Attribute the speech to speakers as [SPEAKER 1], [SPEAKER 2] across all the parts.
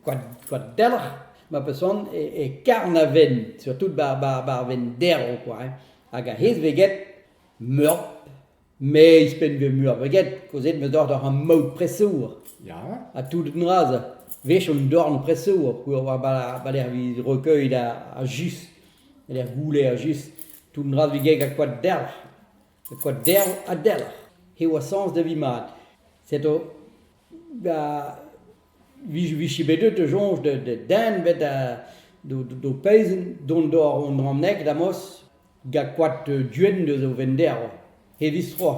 [SPEAKER 1] koa delc'h ma peus c'hoant e karn a venn, surtout ba'r venn derv koa, hag a-hed veget meur, me izhpenn vel meur veget, kaozeet 'm eus deoc'h doc'h am maout presour. Ha tout un dra zo, 'wech on dorn presour peogwir oa ba lec'h 'vit recueil ha just, e lec'h gouler ha just, tout un dra 'vit get koad delc'h. Met kwa derv ha delc'h eo a sañs da vi mat. Setu da vije bet deut da soñj da denved d'ho pezhin dont d'hor ranneg da'mos gant koad duen eus ho vennderv he distro.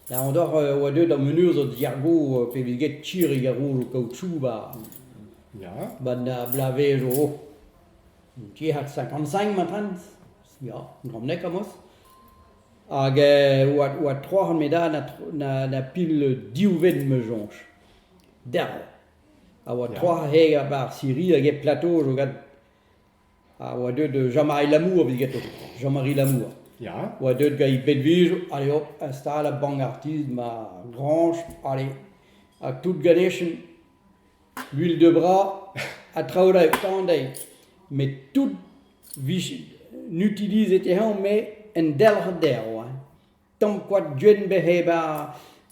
[SPEAKER 1] Daout oc'h e oa deuet an menurzh diargo pe vez get Chirig ar Rouz o kaoutchouc ba 'na blavezh 'zo. Tiez 'hat 55 ma 'treñs. Ya, gromnek amos. Hag eh oa oa tro ar medal na tro- na na pil div vent ma soñj. Derv. A oa tro he barzh Siri hag e plateau zo gant. A oa deuet Jean-Marie Lamour evit getoñ. Jean-Marie Lamour. Ya? oa deuet gant he bedvez, allez hop, install a bank artist ma grañch, allez, hag tout ganechen. Mil deu bras ha traoù all tamm dezhe met tout 'vije n'utilizet eñ met un delc'h derv hein. Tamm koad gwenn bec'h eo bet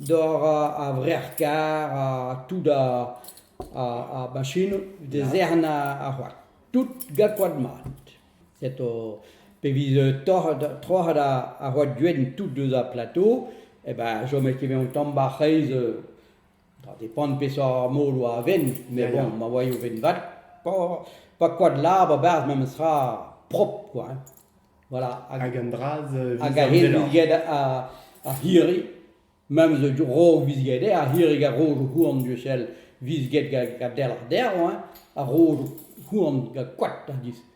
[SPEAKER 1] doc'h ar vrec'h-karr ha tout ar machinoù da zerc'hen ar c'hoad. Tout gant koad mat. Setu pe vez troc'het ar c'hoad gwenn tout deus ar plateau eh ben chomet ket bet un tamm 'ba 'c'hreiz Ba, depend peseurt moloù a ven, met Ya, bon, ya. ma oaio ven vat, pa, pa koad lab a-berzh memes tra prop, quoi. hein. Voilà. Hag Hag un draz euh, hag a hen viz-amzer-lor. get a, a hiri, memes a rog viz get eo, a hirig a rojo houarn du sel viz get ga, ga delc'h derv, hein, a rojo houarn ga koad, a dis.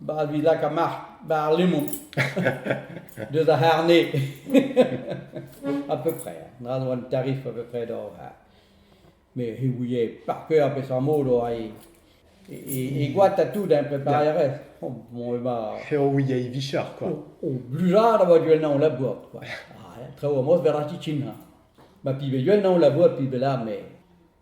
[SPEAKER 1] Ba ar vilaka marc'h, ba ar lemon, deus ar C'harne, a peu près, dra zo an tarif a peu près d'or, me he ouie par cœur peseurt mod oa e, e, e goad ha tout, hein, preparé a rez, oh, bon, e ba... Eo ouie e vichar, quoi. O, o blujad a oa duel-nañ o labour, quoi. Ah, traoù amos be'r a chichin, ha. Ma pi be duel-nañ o labour, pi be la, mais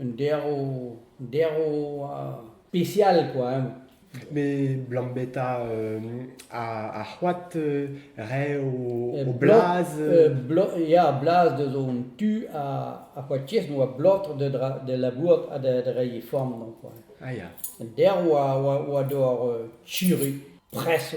[SPEAKER 1] Un derv, derv spécial quoi. Hein. Mais Blambetta euh, a, a c'hoat euh, re o, o blaz euh, Ya, blaz de zon tu a, a c'hoatiez no a blotr de, de la bourg a de, de rei form non quoi. Ah ya. Derv a, a, a dor euh, churu, presse.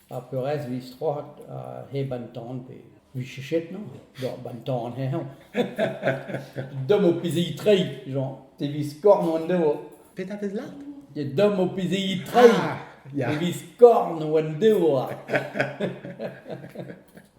[SPEAKER 1] Ar peurrest 'vit strollad hep an tan pe 'vit chechetnañ doc'h 'ba an tan heñv. Dom ho pezhigi treiñ, Jean, te 'vit skorn hon devo. Petra 'pez lart? Ya, dom ho pezhigi treiñ, ya, 'vit skorn hon devo.